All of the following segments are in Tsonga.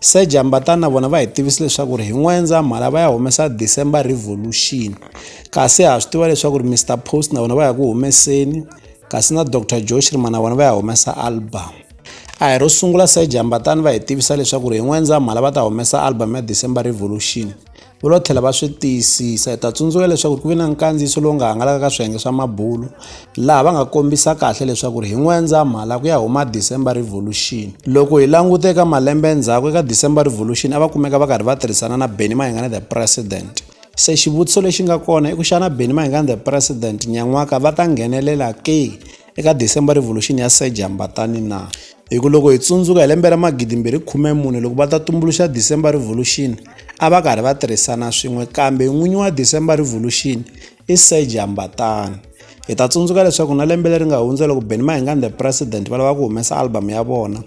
Se Jambatan na vona va hi tivise leswaku ri hi N'wendzamhala va ya humesa December Revolution kasi ha swi tiva leswaku ri Mister Post na vona va ya ku humeseni kasi na Doctor Joe Shirima na vona va ya humesa album a hi ro sungula se Jambatan va hi tivisa leswaku ri hi N'wendzamhala va ta humesa album ya December Revolution va lo tlhela va swi tiyisisa hi ta tsundzuka leswaku ku ve na nkandziyiso lowu nga hangalaka ka swiyenge swa mabulo laha va nga kombisa kahle leswaku ri hi n'wendzamhala ku ya huma december revolution loko hi langute eka malembe endzhaku eka december revolution a va kumeka va karhi va tirhisana na benny mahingana the president se xivutiso lexi nga kona i ku xana benny mahingana the president nyan'waka va ta nghenelela ke eka December Revolution ya Serge Hambatani na? Hi ku loko hi tsundzuka hi lembe ra 2014 loko va ta tumbuluxa December Revolution a va karhi va tirhisana swin'we kambe n'winyi wa December Revolution i Serge Hambatani. Hi ta tsundzuka leswaku na lembe leri nga hundza loko Benny Mayengani the President va lava ku humesa album ya vona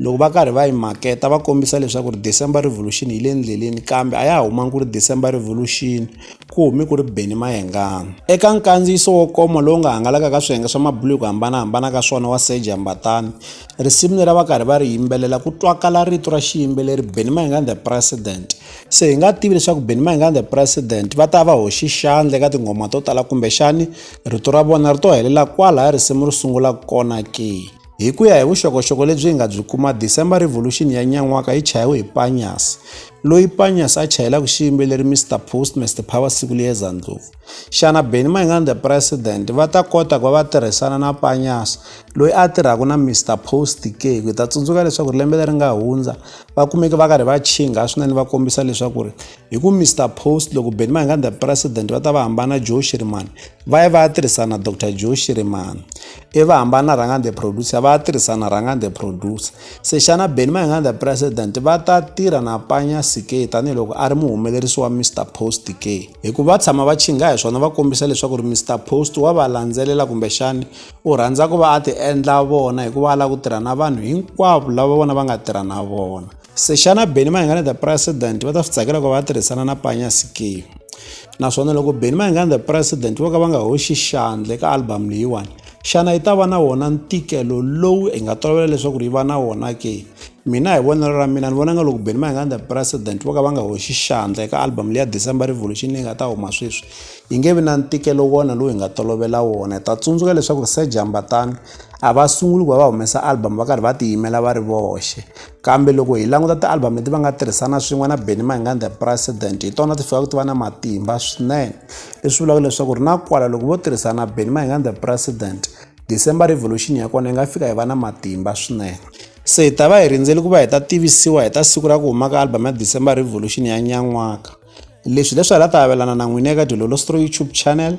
loko va karhi va yi maketa va kombisa leswaku ri December Revolution yi le ndleleni kambe a ya ha humangi ku ri December Revolution ku humi ku ri Benny Mayengani. Eka nkandziyiso wo koma lowu nga hangalaka ka swiyenge swa mabulu hi ku hambanahambana ka swona wa Serge Mbatani, risimu leri a va karhi va ri yimbelela ku twakala rito ra xiyimbeleri Benny Mayengani the President. Se hi nga tivi leswaku Benny Mayengani the President va ta va hoxi xandla eka tinghoma to tala kumbexani rito ra vona ri to helela kwalaya risimu ri sungulaka kona ke. Hi ku ya hi vuxokoxoko lebyi hi nga byi kuma, December Revolution ya nyan'waka yi chayiwe hi Panyas, loyi Panyas a chayelaka xiyimbeleri Mr Post Mr Power siku liyeza ndlopfu. Xana Benny Mayengani the President va ta kota ku va va tirhisana na Panyas loyi a tirhaka na Mr Post ke? Hi ta tsundzuka leswaku lembe leri nga hundza va kumeke va karhi va chinga swinene va kombisa leswaku ri hi ku mr post loko benny mayengani the president va ta va hambana joe shirimani va ye va ya tirhisana dr joe shirimani i va hambana rhangani the producer va ya tirhisana rhangani the producer se xana benny mayengani the president va ta tirha na panya sike tanihiloko a ri muhumelerisi wa mr post ke hikuva va tshama va chinga hi swona va kombisa leswaku ri mr post wa va landzelela kumbexani u rhandza ku va a ti endla vona hikuva a lava ku tirha na vanhu hinkwavo lava vona va nga tirha na vona Se xana Benny Mayengani the president va ta swi tsakela ku va tirhisana na Panya Sikiyo naswona loko Benny Mayengani the president vo ka va nga hoxi xandle ka album leyiwani xana yi ta va na wona ntikelo lowu hi nga tolovela leswaku yi va na wona ke mina hi vonelo ra mina ni vona nga loko Benny Mayengani the president vo ka va nga hoxi xandla eka album leya December Revolution leyi nga ta huma sweswi yi nge vi na ntikelo wona lowu hi nga tolovela wona hi ta tsundzuka leswaku Sir Jambatani a va sunguli ku va va humesa album va karhi va tiyimela va ri voxe kambe loko hi languta ti-album leti va nga tirhisana swin'we na benny mahingani the president hi tona ti fikaka ti va na matimba swinene leswi vulaka leswaku ri na kwala loko vo tirhisana benny mahingani the president december revolution ya kona yi nga fika yi va na matimba swinene se hi ta va hi rindzeli ku va hi ta tivisiwa hi ta siku ra ku huma ka album ya december revolution ya nyan'waka leswi leswi hi la ta avelana na n'wini eka dilolo stro youtube channel